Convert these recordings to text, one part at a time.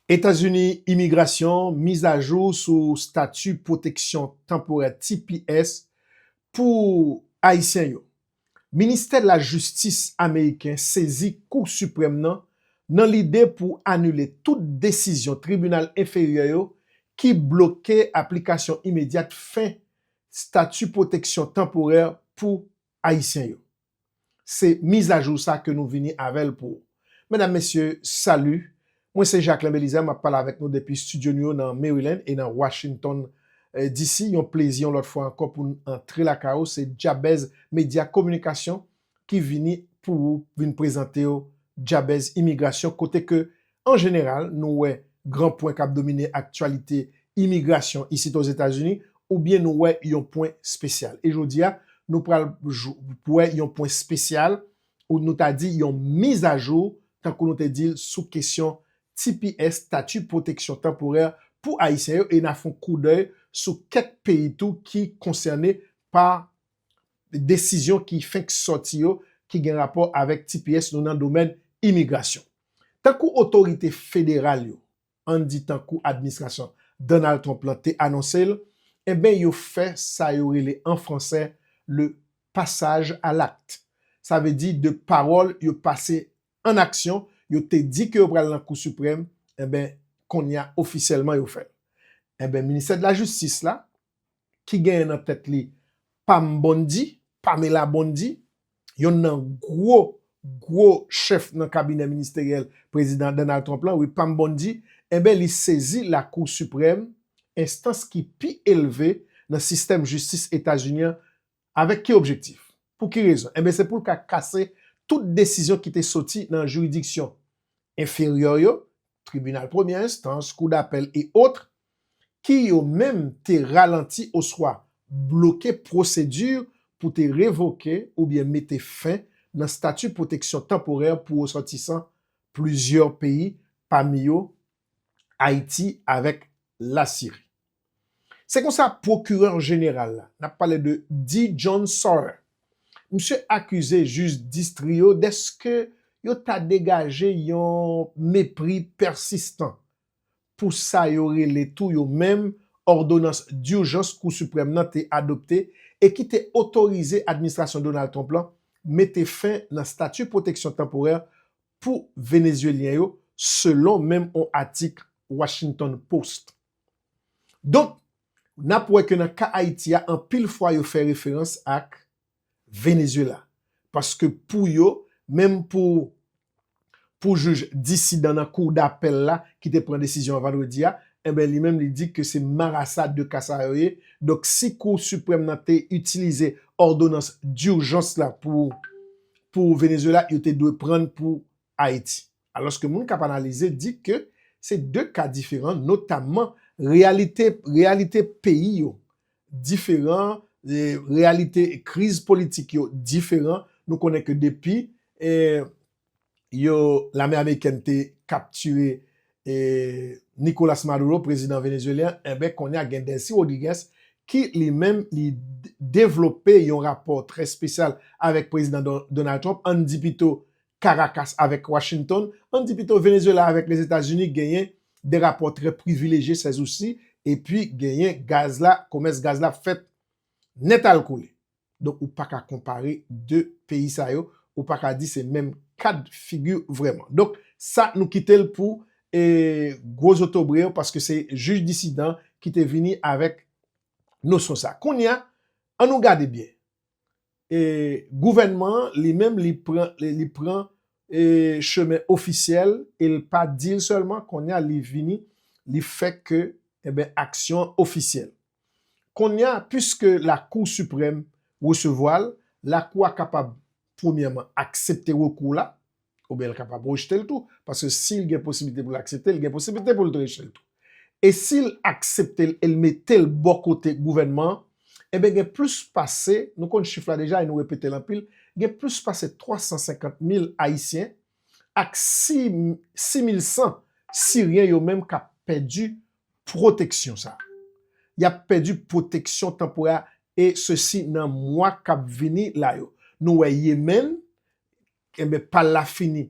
Etazini Imigrasyon mizajou sou stati pwoteksyon tanporè tps pou Ayisyen yo. Ministè Lajistis Ameriken sezi Kou Siprèm nan nan lide pou anile tout desizyon tribinal enferyè yo ki bloke aplikasyon imedyat fen stati pwoteksyon tanporè pou Ayisyen yo. Se mizajou sa ke nou vini avèl pou ou. Medam, mesye, salut! Mwen se Jacquelin Belizaire, map pale avèk nou depi studio nou yo nan Maryland e nan Washington DC. Yon plezi yon lòt fwa ankò pou'n antre lakay ou. Se Jabez Media Communication ki vini pou ou, vin prezantew Jabez Immigration kote ke An jeneral, nou wè gran pwen k ap domine aktyalite imigrasyon isit Ozetazini oubyen nou wè yon pwen spesyal. E jodi a, nou pral wè yon pwen spesyal ou nou ta di yon mizajou, tankou nou te di l sou kesyon tps, Statut Protection Temporaire, pou Ayisyen yo e n a fon koudèy sou kèk peyi tou ki konsène pa desizyon ki fenk sòti yo ki gen rapò avèk tps nou nan domèn imigrasyon. Tankou otorite federal yo, ann di tankou administrasyon Donald Trump lan te anonse l, enben yo fè sa yo rele an fransè le passage à l'acte. Sa vle di de pawòl yo pase ann aksyon, yo te di ke yo pral nan Kou Siprèm, enben konnya ofisyèlman yo fè l. Enben ministè de la jistis la, ki genyen nan tèt li Pam Bondi, Pamela Bondi, yonn nan gwo, gwo chèf nan kabinè ministeryèl Prezidan Donald Trump lan, wi Pam Bondi, enben li sezi Lakou Siprèm, enstans ki pi elve nan sistèm jistis Etazini an, Avèk ki objektif? Pou ki rezon? Enben se pou l ka kase tout desizyon ki te soti nan jiridiksyon enferyè yo, tribinal premyè enstans, kou dapèl e otre, ki yo menm te ralanti oswa bloke pwosedi pou te revoke oubyen mete fen nan stati pwoteksyon tanporè pou resòtisan plizyè peyi pami yo Ayiti avèk Lasiri. Se konsa pwokirè jeneral la, n ap pale de D. John Sauer, misye akize jij distri yo dèske yo ta degaje yon mepri pèsistan pou sa yo rele tou yo menm òdonans durjans Kou Siprèm nan te adopte e ki te otorize administrasyon Donald Trump lan mete fen nan stati pwoteksyon tanporè pou Venezyelyen yo, selon menm on atik Washington Post. Donk, n ap wè ke nan ka Ayiti a, anpil fwa yo fè referans ak Venezuela. Paske pou yo, menm pou pou jij disidan nan kou dapèl la ki te pran desizyon an vandredi a, enben li menm li di ke se marasa de ka sa yo ye. Donk, si kou siprèm nan te itilize òdonans durjans la pou pou Venezuela, yo te dwe pran pou Ayiti. Alòske moun k ap analize di ke se 2 ka diferan notamman reyalite reyalite peyi yo diferan, reyalite kriz politik yo diferan, nou konnen ke depi yo lame amerikèn te kaptire Nicolas Maduro prezidan venezuelyen an enben kounye a gen Delcy Rodriguez ki li menm li devlope yon rapò trè spesyal avèk prezidan Donald Trump, ann di pito Karakas avèk Washington, ann di pito Venezuela avèk Lèzetazini genyen de rapò trè privilejye sèzousi epi genyen gaz la, komès gaz la ap fèt nèt al kole. Donk ou pa ka konpare de peyi sa yo, ou pa ka di se menm kad figi vrèman. Donk sa nou kite l pou gwo zotobre yo paske se jij disidan ki te vini avèk nosyon sa. Kounye a, an nou gade byen. e gouvènman an li menm li pran li pran e chemen ofisyèl e l pa di l sèlman kounye a li vini li fè ke enben aksyon an ofisyèl kounye a piske lakou siprèm resevwa l lakou a kapab premyèman aksepte rekou w la Oubyen l kapab rejte l tou, paske si l gen posiblite pou l aksepte l, li gen posiblite pou l te rejte l tou. E si l aksepte l e l mete l bò kote gouvènman an, enben gen plis pase, nou konn chif la deja e nou repete l anpil, gen plis pase 350 mil Ayisyen ak 6 mil 100 Siryen yo menm k ap pèdi pwoteksyon sa a. Y ap pèdi pwoteksyon tanporè a e sesi nan mwa k ap vini la yo. Nou wè Yemen, Enben, pa l la fini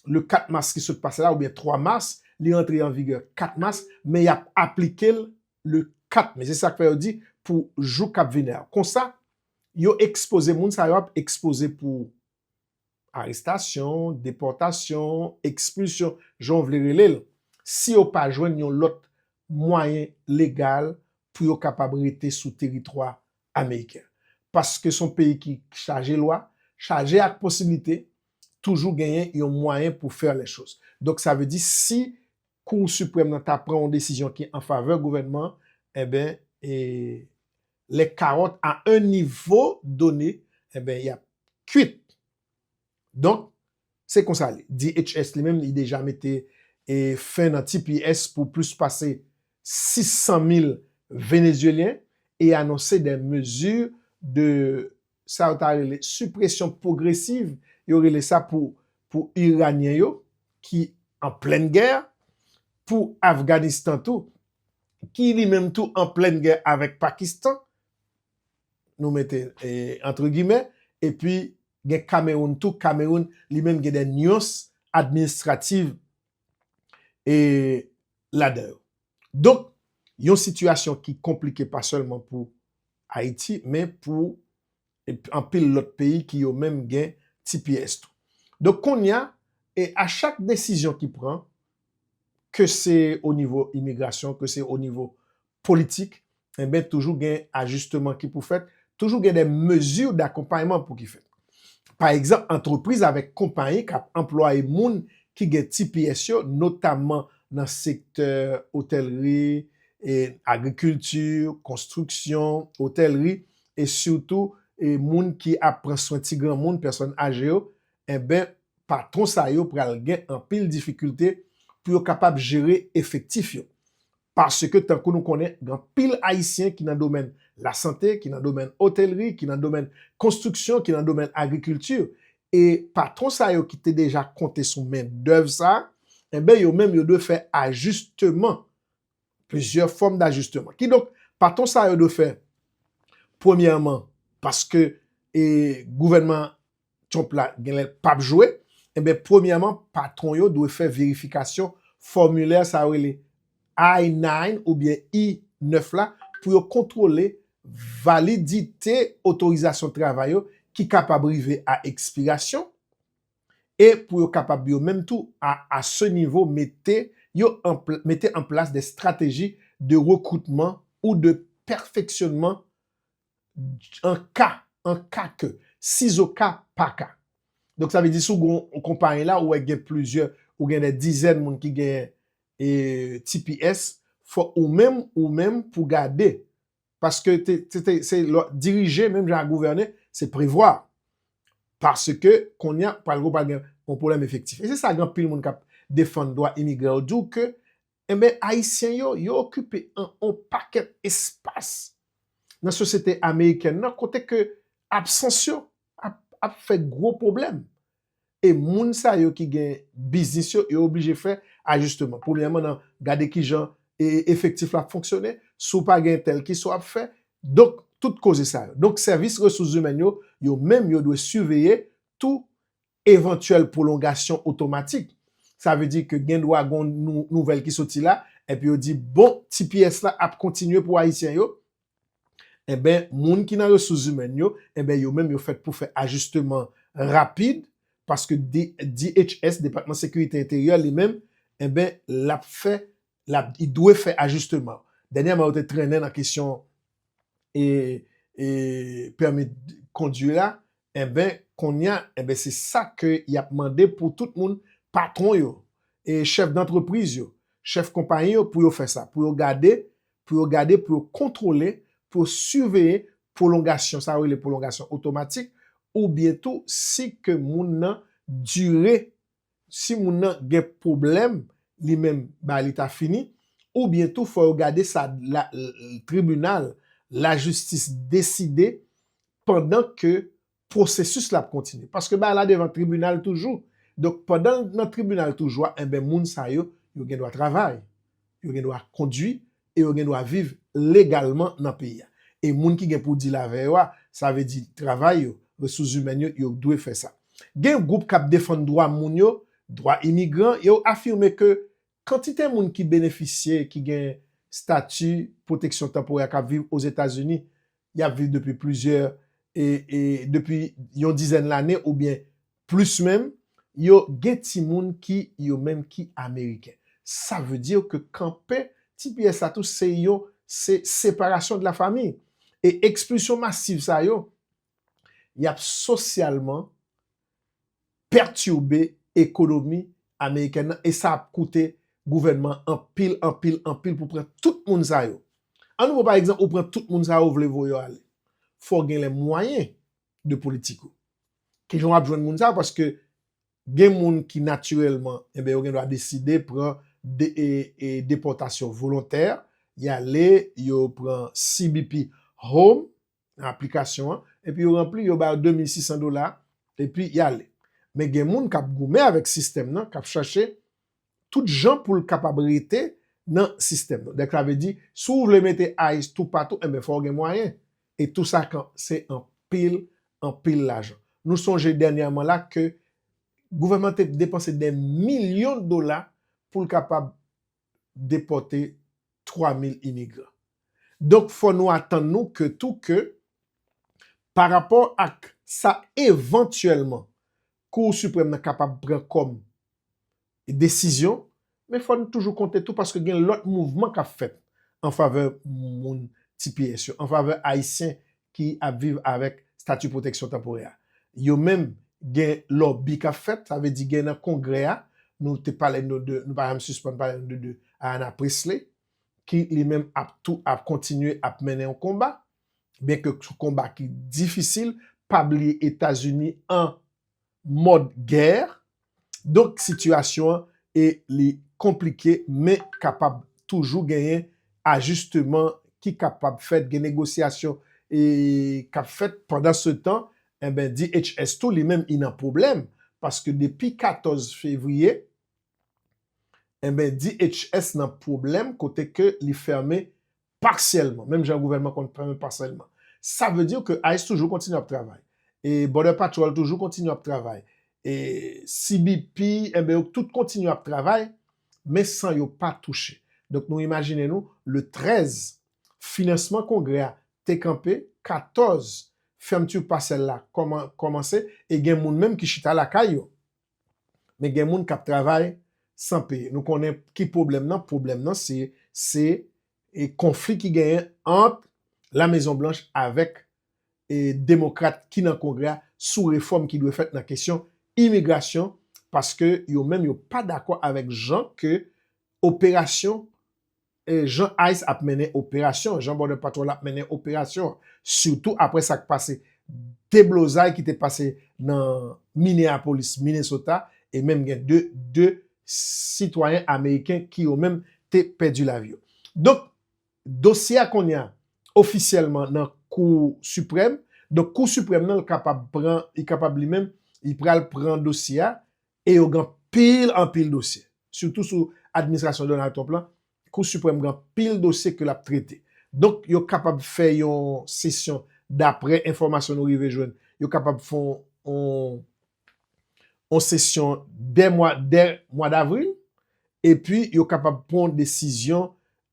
le 4 mas ki sot pase la oubyen 3 mas, li antre an vigè 4 mas, men y ap aplike l le 4 me. Se sa k fè yo di pou jou k ap vini a. Konsa, yo ekspoze, moun sa yo ap ekspoze pou arestasyon, depòtasyon, ekspilsyon, jan w vle rele l, si yo pa jwenn yon lòt mwayen legal pou yo kapab rete sou teritwa ameriken. Paske son peyi ki chaje lwa, chaje ak posiblite, toujou genyen yon mwayen pou faire les choses. Donk sa vle di si Cour Suprême nan ta pran yon desizyon ki an favè gouvènman an, enben e les carottes à un niveau donné, enben y ap kuit. Donk, se konsa li. DHS li menm li deja mete fen nan tps pou plis pase 600 mil Venezyelyen e anonse dè mezi de sa yo ta rele sipresyon pwogresiv yo rele sa pou pou Iranyen yo ki an plèn gè, pou Afganistan tou ki li menm tou an plèn gè avèk Pakistan nou mete antre gimè, epi gen Kameroun tou, Kameroun li menm gen de nuans administrativ e ladan yo. Donk, yon sitiyasyon ki konplike pa sèlman pou Ayiti, men pou anpil lòt peyi ki yo menm gen tps tou. Donk, konnya, e a chak desizyon ki pran, ke se o nivo imigrasyon, ke se o nivo politik, enben toujou gen ajisteman ki pou fèt, toujou gen de mezi dakonpayman pou ki fèt. Pa egzanp, antrepriz avèk konpayi k ap anplwaye moun ki gen tps yo, notamman nan sektè otèlri, agrikilti, konstriksyon, otèlri, e sitou moun ki ap pran swen ti granmoun, pèsòn aje yo, enben patwon sa yo pral gen anpil difikilte pou yo kapab jere efektif yo. Paske tankou nou konnen gen anpil Ayisyen ki nan domèn lasante, ki nan domèn otelri, ki nan domèn konstriksyon, ki nan domèn agrikilti e patwon sa yo ki te deja konte sou men dèv sa, enben yo menm yo dwe fè ajisteman, plizyè fòm dajisteman. Kidonk patwon sa yo dwe fè premyèman paske gouvènman Trump la genlè pap jwe, enben premyèman patwon yo dwe fè verifikasyon fòmilè sa yo rele I-9 oubyen I-9 la pou yo kontwole validite otorizasyon travay yo ki kapab rive a ekspirasyon e pou yo kapab yo menm tou a a se nivo mete yo an mete an plas de strateji de rekroutman ou de pèfeksyonman an ka, an ka ke, sizoka, pa ka. Donk sa vle di si w gen yon konpayi la ou wè gen plizyè, ou gen dè dizèn moun ki gen tps, fòk ou menm, ou menm pou w gade. Paske se dirije menm jan ak gouvène, se prevwa. Paske kounye a pral gen yon pwoblèm efektif. E se sa gen anpil moun k ap defann dwa imigran yo di w ke Enben, Ayisyen yo, yo okipe an on pakèt espas nan sosyete amerikèn nan kote ke absans yo ap ap fè gwo pwoblèm. E moun sa yo ki gen biznis yo, yo oblije fè ajisteman. Premyèman nan gade ki jan e efektif la ap fonksyone, si w pa gen tèl kisa w ap fè. Donk, tout koze sa yo. Donk, sèvis resous zimèn yo, yo menm yo dwe siveye tou evantyèl pwolongasyon otomatik. Sa vle di ke gen dwa gon nouvèl ki soti la, epi yo di bon tps la ap kontinye pou ayisyen yo, enben moun ki nan resous zimèn yo, enben yo menm yo fèt pou fè ajisteman rapid, paske DHS, Depatman Sekirite Enteryè, li menm, enben l ap fè, l ap, li dwe fè ajisteman. Dènyèman yo te trennen nan kesyon e, e pèmi kondwi la, Enben, konnya, enben se sa ke y ap mande pou tout moun, patwon yo, e chèf dantrepriz yo, chèf konpayi yo pou yo fè sa, pou yo gade, pou yo gade, pou yo kontwole, pou yo siveye pwolongasyon, sa yo rele pwolongasyon otomatik, oubyen tou si ke moun nan dire si moun nan gen pwoblèm li menm ba li ta fini oubyen tou fò yo gade sa la tribinal lajistis deside pandan ke pwosesis la ap kontinye paske bagay la devan tribinal toujou donk pandan l nan tribinal toujou a enben moun sa yo yo gen dwa travay yo gen dwa kondwi e yo gen dwa viv legalman nan peyi a. E moun ki gen pou dil avè yo a, sa vle di travay yo, resous zimèn yo, yo dwe fè sa. Gen gwoup k ap defann dwa moun yo, dwa imigran, yo afime ke kantite moun ki benefisye ki gen stati pwoteksyon tanporè k ap viv Ozetazini, y ap viv depi plizyè, depi yon dizèn lane oubyen Plis menm, yo gen timoun ki yo menm ki Ameriken. Sa vle di ke kanpe tps la tou se yon se separasyon de la fami. E ekspilsyon masiv sa yo, y ap sosyalman pètibe ekonomi Amerikèn nan e sa ap koute gouvènman an anpil, anpil, anpil pou pran tout moun sa yo. An nou pran pa egzanp ou pran tout moun sa yo ou vle voye yo ale. Fò w gen lè mwayen de politik ou. Ki jan w ap jwenn moun sa yo? Paske gen moun ki natirèlman, enben yo gen dwa deside pran depòtasyon volontè, y ale, yo pran CBP Home, nan aplikasyon an, epi yo ranpli, yo ba yo 2600 dola, epi y ale. Men gen moun k ap goumen avèk sistèm nan, k ap chache tout jan pou l kapab rete nan sistèm nan. Donk sa vle di, si w vle mete ice toupatou, enben fò w gen mwayen. E tou sa kan se anpil, anpil lajan. Nou sonje dènyèman la ke gouvènman te depanse dè milyon dola pou l kapab depòte 3 mil imigran. Donk fò nou atann nou ke tou ke parapò ak sa evantyèlman Cour Suprême nan kapab pran kòm desizyon, men fò n toujou konte tou paske gen lòt mouvman k ap fèt an favè moun tps yo, an favè Ayisyen ki ap viv avèk stati pwoteksyon tanporè a. Yo menm gen lòbi k ap fèt, sa vle di gen nan Kongrè a, nou te pale nou de, nou pa janm sispann pale nou de Ayanna Pressley, ki li menm ap tou ap kontinye ap mennen yon konba. Byen ke sou konba ki difisil, pa bliye Etazini an mòd gè, donk sitiyasyon an e li konplike men kapab toujou genyen ajisteman ki kapab fèt, gen negosyasyon e k ap fèt pandansetan enben DHS tou li menm li nan pwoblèm paske depi 14 fevriye enben DHS nan pwoblèm kote ke li fèmen Partiellement, menm jan gouvènman konn fè men pa sèlman. Sa vle di ke ice toujou kontinye ap travay. E Border Patrol toujou kontinye ap travay. E CBP, enben yo tout kontinye ap travay, men san yo pa touche. Donk nou imajine nou, le 13, finansman kongrè a te kanpe, 14, fermeture partielle la kòmanse, e gen moun menm ki chita lakay yo. men gen moun kap travay San peye nou konnen ki pwoblèm nan pwoblèm nan se se e konfli ki genyen ant la mezon blanch avèk e demokrat ki nan kongrè a sou refòm ki dwe fèt nan kesyon imigrasyon paske yo menm yo pa dakò avèk jan ke operasyon Jan ice ap mennen operasyon, jan Border Patrol ap mennen operasyon, sitou apre sa k pase deblozay ki te pase nan Minneapolis, Minnesota, e menm gen 2 sitwayen ameriken ki yo menm te pèdi lavi yo. Donk, dosye a kounye a ofisyèlman nan Kou Siprèm, donk Kou Siprèm nan l kapab pran, li kapab li menm, li pral pran dosye a, E yo gen anpil anpil dosye. Sitou sou administrasyon Donald Trump lan, Kou Siprèm gen anpil dosye ke l ap trete. Donk, yo kapab fè yon sesyon, dapre enfòmasyon nou rive jwenn, yo kapab fè yon sesyon dè mwa davril, epi yo kapab pran yon desizyon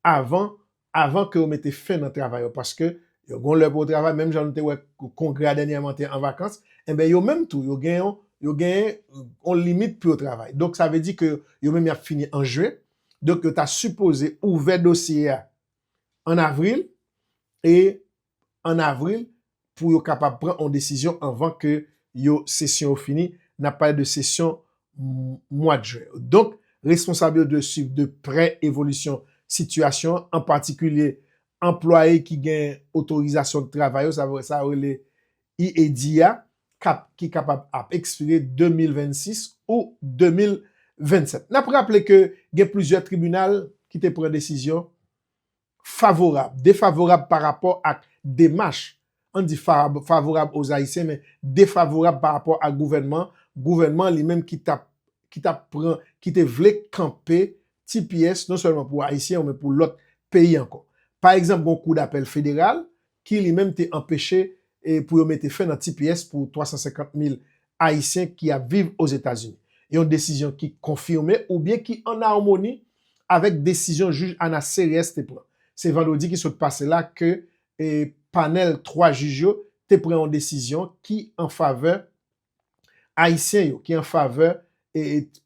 avan avan ke yo mete fen nan travay yo paske yo gon lè pou yo travay menm jan nou te wè kongrè a dènyèman te an vakans enben yo menm tou yo gen yon yo gen yon limit pou yo travay donk sa vle di ke yo menm yap fini an jen donk yo ta sipoze ouvè dosye a an avril e an avril pou yo kapab pran on desizyon anvan ke yo sesyon yo fini, n ap pale de sesyon mwad jen. Donk, responsab yo dwe swiv de prè evolisyon sitiyasyon an, an patikilye anplwaye ki gen otorizasyon travay yo, sa vle sa yo rele EAD a, ki kapab ap ekspire 2026 ou 2027. N ap raple ke gen plizyè tribinal ki te pran desizyon Favorab, defavorab pa rapò ak demach, an di fab, favorab aux Haïtiens men defavorab pa rapò ak gouvènman, gouvènman li menm ki tap, ki tap pran, ki te vle kanpe tps non sèlman pou Ayisyen yo men pou lòt peyi ankò. Pa egzanp gon kou dapèl federal ki li menm te anpeche pou yo mete fen nan tps pou 350 mil Ayisyen ki ap viv Ozetazini. Yon desizyon ki konfime oubyen ki an amoni avèk desizyon jij Ana Series te pran. Se vandredi ki sot pase la ke panèl 3 jij yo te pran yon desizyon ki an favè Ayisyen yo ki an favè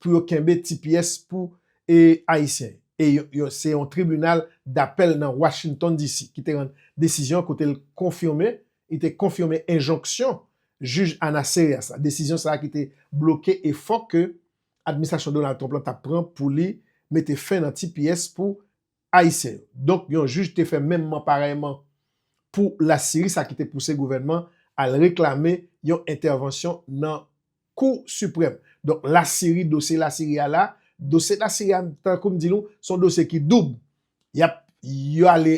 pou yo kenbe tps pou Ayisyen yo. E se yon tribinal dapèl nan Washington DC ki te rann desizyon an kote l konfime, li te konfime enjonksyon jij Ana Serias la. Desizyon sa a ki te bloke efò ke administrasyon Donald Trump lan t ap pran pou li mete fen nan tps pou Ayisyen yo. Donk yon jij te fè menmman parèyman pou Lasiri sa ki te pouse gouvènman al reklame yon entèvansyon nan Kou Siprèm. Donk Lasiri dosye Lasiri a la, dosye Lasiri a tankou m di nou se yon dosye ki doub. Y ap yo ale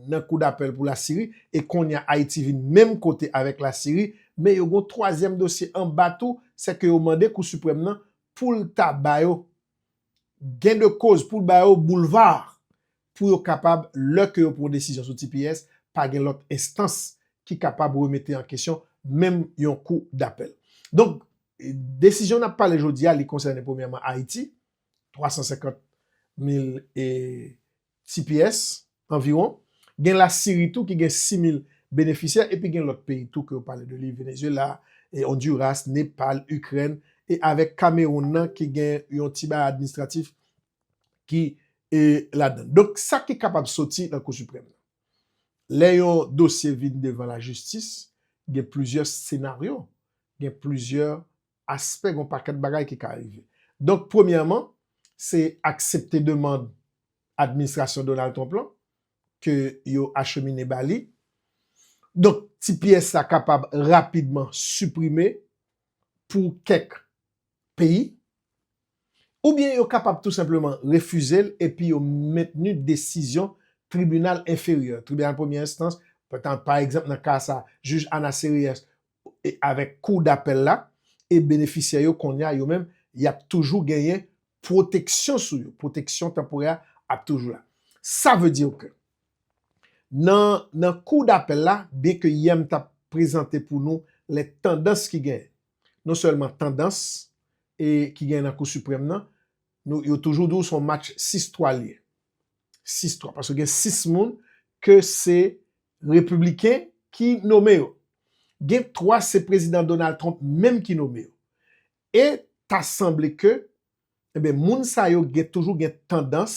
nan kou dapèl pou Lasiri e kounye a Ayiti vin menm kote avèk Lasiri men yo gen yon twazyèm dosye anba tou sèke yo mande Kou Siprèm nan pou l ta ba yo gen de koz pou l ba yo boulva pou yo kapab, lè ke yo pran yon desizyon sou tps, pa gen lòt enstans ki kapab remete an kesyon, menm yon kou dapèl. Donk, desizyon n ap pale jodi a, li konsènen premyèman Ayiti, 350 mil tps, anviwon, gen la Siri tou ki gen 6000 benefisyè epi gen lòt peyi tou ke yo pale de li Venezuela, Honduras, Nepal, Ukraine e avèk Cameroun nan ki gen yon ti bagay administratif ki ladann. Donk sa ki kapab soti nan kou siprèm nan. Lè yon dosye vin devan la jistis gen plizyè senaryo, gen plizyè aspè, gen yon pakèt bagay ki ka rive. Donk premyèman, se aksepte demand administrasyon Donald Trump lan ke yo achemine ba li. Donk tps la kapab rapidman siprime pou kèk peyi. Oubyen yo kapab tou senpleman refize l epi yo mentni desizyon tribinal enferyè, tribinal premyè enstans, pa egzanp nan ka sa, jij Ana Sereyès avèk kou dapèl la e benefisyè yo kounye a yo menm y ap toujou genyen pwoteksyon sou yo, pwoteksyon tanporè a ap toujou la. Sa vle di ke nan kou dapèl la, byen ke yè m t ap prezante pou nou lè tandans ki genyen, non sèlman tandans ki genyen nan kou siprèm nan, yo toujou di w se yon match 6 twa l ye, 6 twa, paske gen 6 moun ke se Repibliken ki nome yo. Gen 3 se Prezidan Donald Trump menm ki nome yo. E ta sanble ke, enben moun sa yo gen toujou gen tandans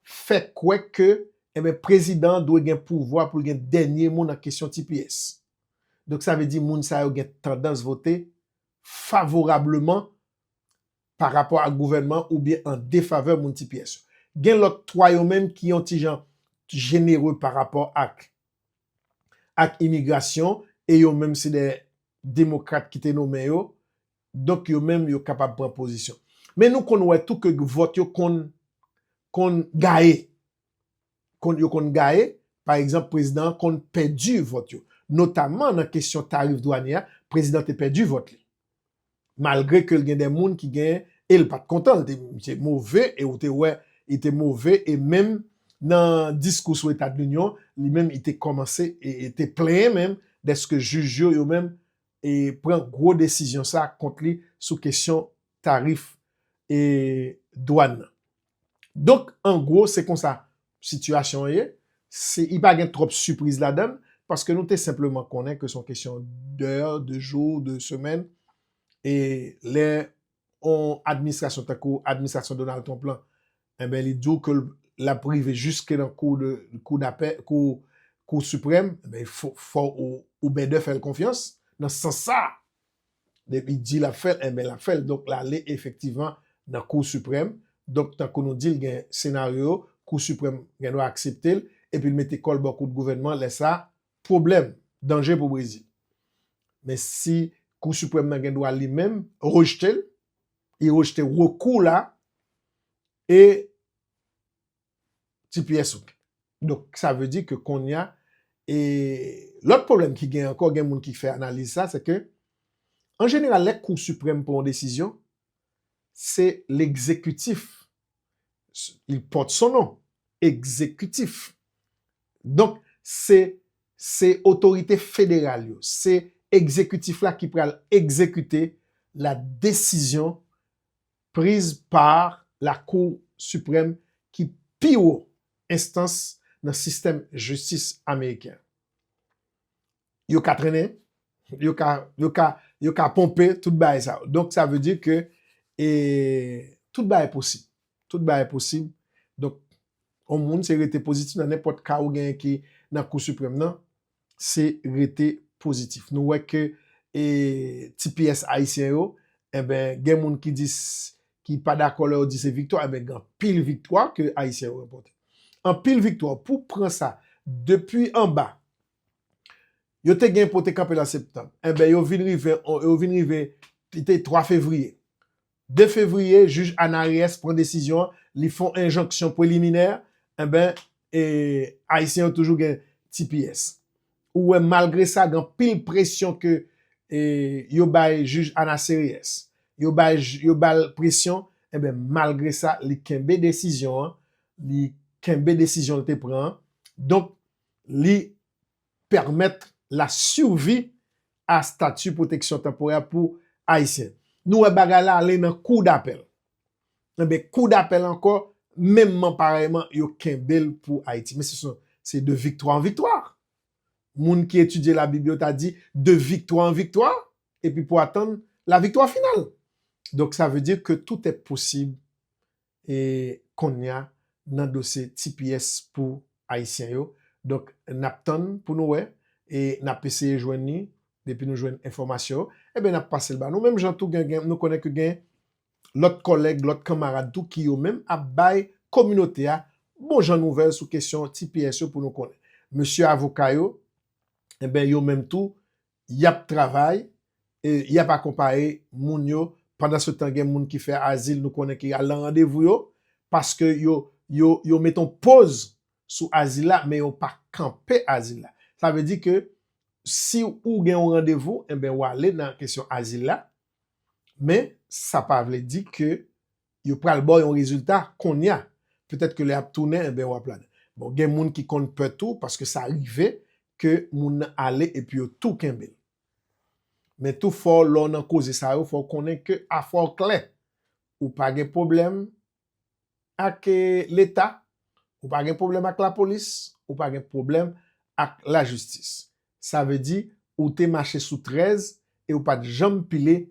fè kwè ke, enben Prezidan an dwe gen pouvwa pou l gen dènye mo nan kesyon tps. Donk sa vle di moun sa yo gen tandans vote favorableman pa rapò ak gouvènman oubyen an defavè moun ti pyès yo. Gen lòt twa yo menm ki yon ti jan jenere pa rapò ak ak imigrasyon e yo menm se de demokrat ki te nomen yo, donk yo menm yo kapab pran pozisyon. Men nou konn wè tou ke vòt yo konn konn gaye. yo konn gaye, pa egzanp prezidan an konn pèdi vòt yo. Notamman nan kesyon tarif dwanye a, prezidan te pèdi vòt li. Malgre ke l gen de moun ki gen, e l pa t kontan, l te misye move e ou te wè li te move e menm nan diskou sou etadlinyon li menm li te kòmanse e te plenyen menm dèske jij yo yo menm e pran gwo desizyon sa kont li sou kesyon tarif e dwàn nan. Donk an gwo se konsa sitiyasyon an ye, li pa gen twòp sipriz ladan l, paske nou te senpleman konnen ke se yon kesyon dè, de jou, de semèn, e lè yon administrasyon tankou administrasyon Donald Trump lan, enben li di w ke l ap rive jiske nan kou de, kou dapè, kou, kou siprèm, enben fò ou bèdè fè l konfyans nan sans sa a. Depi di lap fèl enben lap fèl donk lale efektivman nan kou siprèm donk tankou nou dil gen senaryo yo kou siprèm gen dwa akseptel epil mete kòl bò kout gouvènman lè sa pwoblèm danje pou brezil men si kou siprèm nan gen dwa li menm rejtel e rejte rekou la e. tps ou. Donk sa vle di ke konnya e lòt pwoblèm ki gen ankò gen moun ki fè analiz sa se ke an jeneral lè kou siprèm pran yon desizyon se lekzekitif il porte son nom ekzekitif donk se se otorite federal yo se ekzekitif la ki pral ekzekite la desizyon Priz pa la kou siprèm ki pi wo enstans nan sistèm jistis ameriken. Yo ka trennen, yo ka, yo ka, yo ka ponpe tout bagay sa yo. Donk sa vle di ke e tout bagay posib. Tout bagay posib. Donk yon moun se rete pozitif nan nenpòt ka ou genyen ki nan kou siprèm nan. se rete pozitif. Nou wè ke e tps ayisyen yo enben gen moun ki di ki pa dakò lè yo di se viktwa enben gen anpil viktwa ke ayisyen yo ranpòte. Anpil viktwa pou pran sa depi anba yo te gen pou te kanpe lan septanm enben yo vin rive yo vin rive li te 3 fevriye 2 fevriye jij Ana Reyes pran desizyon an li fon enjonksyon preliminè enben e ayisyen yo toujou gen tps ou wè malgre sa gen anpil presyon ke e yo bay jij Ana Sereyes yo bay yo bal presyon enben malgre sa li kenbe desizyon an li kenbe desizyon li te pran an donk li pèmèt la survi a stati pwoteksyon tanporè pou Ayisyen. Nou wè bagay la ale nan kou dapèl. Enben, kou dapèl ankò, menmman parèyman, yo kenbe l pou Ayiti. Men se son, se de viktwa an viktwa. Moun ki etidye Labib yo ta di, de viktwa an viktwa, epi pou atann laviktwa final. Donk sa vle di ke tout è posib e konnya nan dosye tps pou ayisyen yo donk nap tann pou nou wè e nap eseye jwenn li depi nou jwenn enfòmasyon yo enben nap pasel ba nou menm jan tou gen gen nou konnen ke gen lòt kòlèg lòt kanmarad tou ki yo menm ap bay kominote a bon jan nouvèl sou kesyon tps yo pou nou konnen mesye avoka yo enben yo menm tou Y ap travay e y ap akonpaye moun yo. Pandansetan, gen moun ki fè azil nou konnen ki al nan randevou yo paske yo met yon poz sou azil la men yo pa kanpe azil la. Sa vle di ke si ou gen yon randevou, enben w ale nan kesyon azil la men sa pa vle di ke Yo pral baw yon rezilta konnya. Petèt ke lè yap tounen enben wap la dan. Bon gen moun ki konn pè tou paske sa rive ke moun nan ale epi yo tou kenbel. Men tou fò lè w nan koze sa yo fò w konnen ke afè w klè. Ou pa gen pwoblèm ak leta, ou pa gen pwoblèm ak lapolis, ou pa gen pwoblèm ak lajistis. Sa vle di ou te mache sou 13 e ou pat janm pile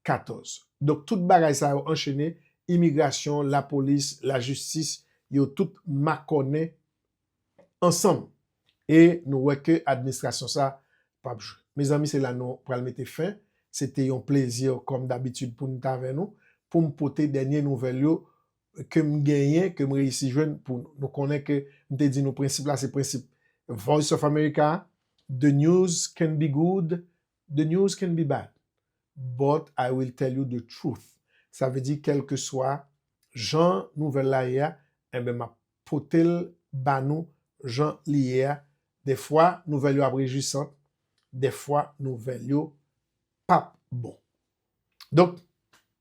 14. Donk tout bagay sa yo anchene, imigrasyon, lapolis, lajistis, yo tout makònen ansanm. E nou wè ke administrasyon sa p ap jwe. Mezanmi se la nou pral mete fen. Se te yon plezi kòm dabitid pou m t avè nou, pou m pote dènye nouvèl yo ke m genyen, ke m reyisi jwenn pou nou. Nou konnen ke m te di nou prensip la se prensip Voice of America, The news can be good, The news can be bad, but I will tell you the truth, sa vle di kèlkeswa jan nouvèl la ye a, enben m ap pote l ba nou jan li ye a, dèfwa nouvèl yo ap rejwisant, dèfwa nouvèl yo p ap bon. Donk.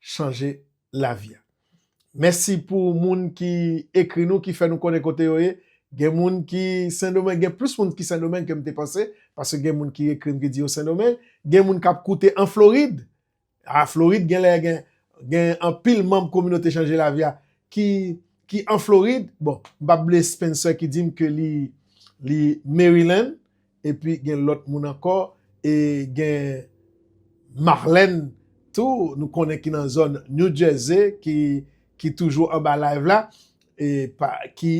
chanje lavi a. Mèsi pou moun ki ekri nou ki fè nou konnen kote yo ye. Gen moun ki Sendomeng, gen plis moun ki Sendomeng ke m te panse, paske gen moun ki ekri m ki di yo Sendomeng. Gen moun k ap koute an Florid, a Florid gen lè gen gen anpil manm kominote chanje lavi a ki ki an Florid, bon m p ap bliye Spencer ki di m ke li li Maryland, Epi gen lòt moun ankò e gen Marlène tou nou konnen ki nan zòn New Jersey ki toujou anba live la e ki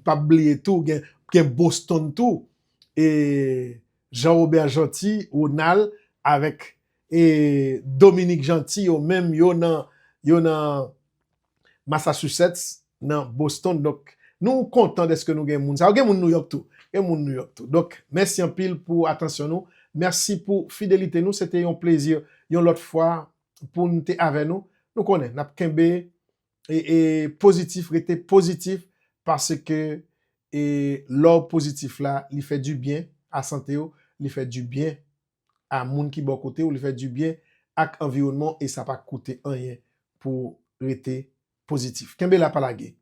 pap bliye tou gen Boston tou e Jean Robert Jeanty, Ronald avèk e Dominique Jeanty yo menm yo nan Massachusetts nan Boston donk nou kontan deske nou gen moun sa yo gen moun nouyòk tou gen moun nouyòk tou donk mèsi anpil pou atansyon nou mèsi pou fidelite nou se te yon plezi yon lòt fwa poun te avè nou nou konnen nap kenbe e pozitif rete pozitif paske e lò pozitif la li fè du byen a sante ou li fè du byen a moun ki bò kote w, li fè dibyen ak anviwònman w e sa pa koute anyen pou w rete pozitif. Kenbe la pa lage.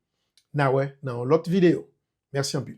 N a wè nan yon lòt videyo. Mèsi anpil.